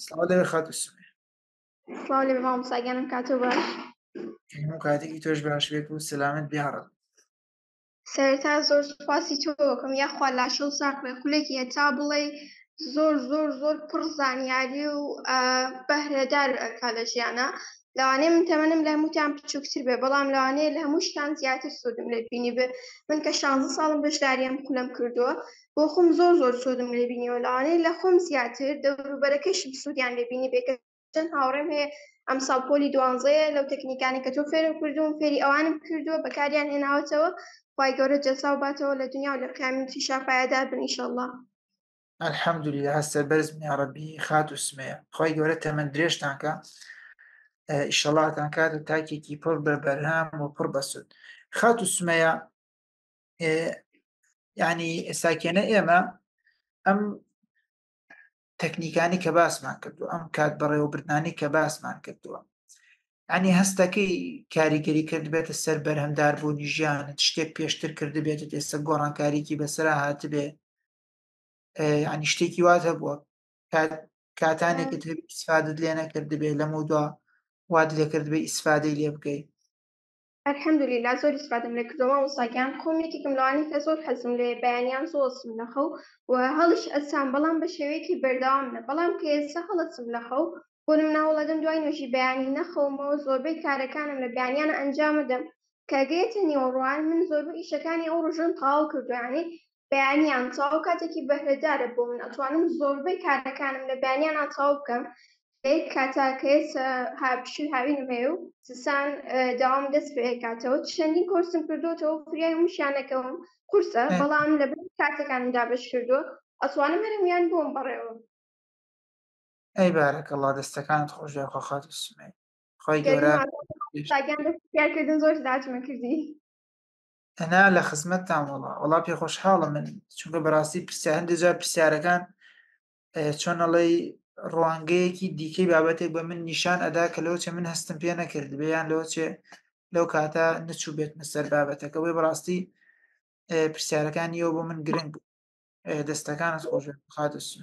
سڵاو لەوێ خاتو سمێ سڵاو لەوێ مامۆستاگیانم کاتۆ باش هەموو کاتێکی تۆش باش بێت و سەلامت بیاڕن سەرتا زۆر سوپاسی تۆکەم یاخوا لاشە و ساقێ خولێکی هەتا بڵێ زۆر زۆر زۆر پڕ زانیاری و بەهرەدار ئەکا لە ژیانە لەوانەیە من تەمەنم لە هەمووتان بچووکتر بێ بەڵام لەوانەیە لە هەموو شتان زیاتر سوودم لێت بینی بێ من کە شانزە ساڵم بەشداریان کولم کردووە بۆ خۆم زۆر زۆر سوودم لێ بینیوە لەوانەیە لە خۆم زیاتر دەوروبەرەکەشم سوودیان لێ بینی بێ کە چەند هاوڕێم هەیە ئەمساڵ پۆلی دوانزەیە لەو تەکنیکانە کە تۆ فێرم کردووم فێری ئەوانم کردووە بەکاریان هێناوەتەوە خوای گەورە جەزاو باتەوە لە دونیا و لە قیامەتیشا پایەدار بن ئیشەڵڵا. الحمدللە هەر سەربەرز بن یاڕەبی خاتو سمەیە خوای گەورە تەمەن درێژتان کا ئیشەڵاتان کات و تاکێکی پڕ بە بەرهەم و پڕ بەسود خاتو سمەیە ینی ئێساکێنە ئێمە ئەم تەکنیکانی کە باسمان کردو ئەم کات بەڕێوەبردنانی کە باسمان کردووە ئەنی هەستەکەی کاریگەری کرد بێتە سەر بەرهەمدار بوونی ژیانت شتێک پێشتر کرد بێت ئێستا گۆڕانکاریکی بەسرا هاتبێ ینی شتێکی واز هەبووە کاتانێکت ئیسفادت لێ نەکردبێ لەم و دوا واد لێکردبێ ئیسفادەی لێ بکەیت الحمد للە زۆر ئیسفادەم لێ کردوە مامۆستا گیان خۆم یەکێکم لەوانەی کە زۆر حەزم لێیە بەیانیان زوو ئەچم لە خەو و هەڵیش ئەسام بەڵام بە شێوەیەکی بەردەوام نە بەڵام کە ئێستا هەڵەچم لە خەو بۆ نمونە هەوڵەدەم دوای نوێژی بەیانی نەخەومەوە زۆربەی کارەکانم لە بەیانیان ئەنجامەدەم کە گەیەتە نیوەڕوان من زۆربەی ئیشەکانی ئەو ڕۆژەم تەواو کردوە یانی بەیانیان تەواو کاتێکی بەهرەدارە بۆ من ئەتوانم زۆربەی کارەکانم لە بەیانیانە تەواو بکەم لەیک کاتا کەێسە هاپشی هاوینم هەیە و سسان داوام دەست پێ کاتەوە چەندین کۆرسم کردوەوە فریای مشیانەکەم قورسە بەڵام لە کاتەکانم دابش کردووە ئەتوانم هەرمیان بۆم بڕێەوە ئەی بارەکەڵا دەستەکانت خۆش خۆخات سمێ خۆی گەورە زۆر داچمە کردی ئەنا لە خزمەتتان وڵا وڵا پێ خۆشحاڵە من چونکە بەڕاستی پرسیا هەندێک جار پرسیارەکان چۆنەڵی ڕوانگەیەکی دیکەی بابەتێک بە من نیشان ئەدا کە لەوچێ من هەستم پێ نەکرد بیان لەوچێ لەو کاتە نەچوو بێت مەسەر بابەتەکە بۆی بەڕاستی پرسیارەکانیەوە بۆ من گرنگ دەستەکانت خۆش خاتە سوێ